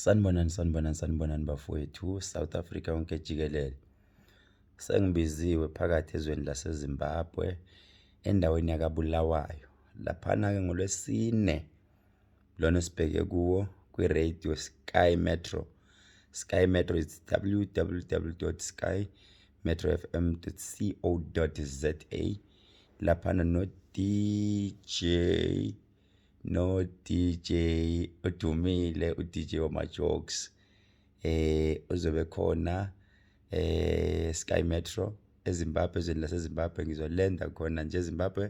Sanibonani sanibonani sanibonani bafowethu South Africa yonke jikelele. Sengibiziwe phakathi ezweni laseZimbabwe endaweni yakaBulawayo. Laphana ke ngolwesine lona esibheke kuwo kwi-radio Sky Metro. Sky Metro is www.skymetrofm.co.za laphana no DJ no DJ odumile u DJ wama jokes eh uzobe khona eh Sky Metro eZimbabwe ezweni laseZimbabwe ngizolenda khona nje eZimbabwe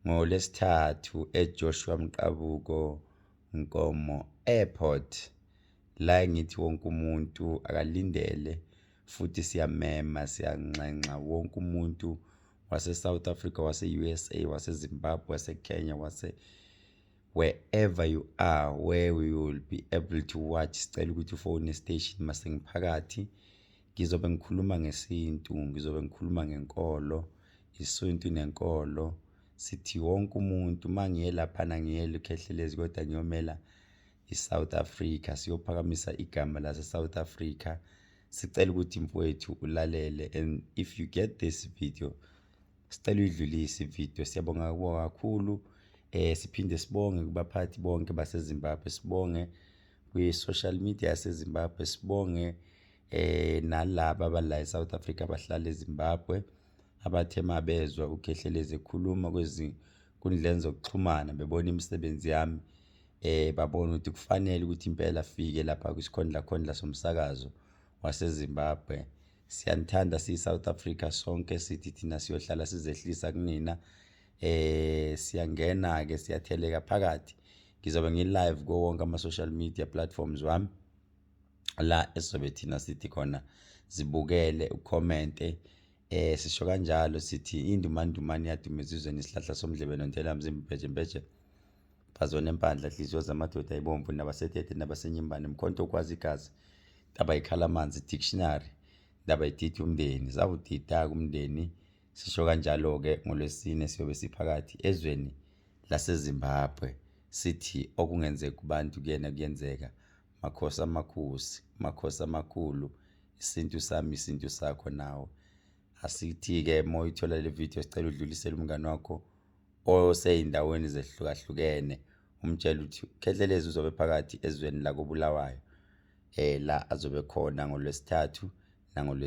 ngolesithathu eJoshua Mqabuko Nkomo Airport la ngithi wonke umuntu akalindele futhi siyamema siyanxenxa wonke umuntu waseSouth Africa wase-USA waseZimbabwe waseKenya wase wherever you are where we will be able to watch sicela ukuthi ufone station masengiphakathi ngizobe ngikhuluma ngesintu ngizobe ngikhuluma ngenkolo isintu nenkolo sithi wonke umuntu uma ngiye laphana ngiyele ukhehlelezi kodwa ngiyomela iSouth Africa siyophakamisa igama laseSouth Africa sicela ukuthi mfowethu ulalele and if you get this video sicela uyidlulise ivideo siyabonga kubo kakhulu eh siphinde sibonge kubaphathi bonke baseZimbabwe sibonge kwi-social media yaseZimbabwe sibonge eh nalabo abala eSouth Africa abahlala eZimbabwe abathe mabezwa uGehlelezi ekhuluma kwezi ezinkundleni zokuxhumana bebona imisebenzi yami eh babona ukuthi kufanele ukuthi impela afike lapha kwisikhondla khondla somsakazo waseZimbabwe siyanithanda siyi-south africa sonke sithi thina siyohlala sizehlisa kunina eh siyangena-ke siyatheleka phakathi ngizobe ngi-live kuwo wonke ama-social media platforms wami la esizobe thina sithi khona zibukele ukhomente Eh sisho kanjalo sithi indumandumane yaduma ezizweni isihlahla somdlebe nontela mzimba ibheje mbheje bazona empandla hliziyo zamadoda ibomvu nabasetete nabasenyimbane mkhonto okwazi igazi ndaba ikhala amanzi dictionary ndaba ididi umndeni zawudida kumndeni sisho kanjalo-ke ngolwesine siyobe siphakathi ezweni lasezimbabwe sithi okungenzeka kubantu kuyena kuyenzeka Makhosi amakhosi, makhosi amakhulu, isintu sami isintu sakho nawe. Asithi-ke uma uyithola le video sicela udlulisele umngane wakho osey'ndaweni zehlukahlukene umtshele ukuthi ukhehlelezi uzobe phakathi ezweni lakobulawayo um la azobe khona ngolwesithathu nangolwesithathu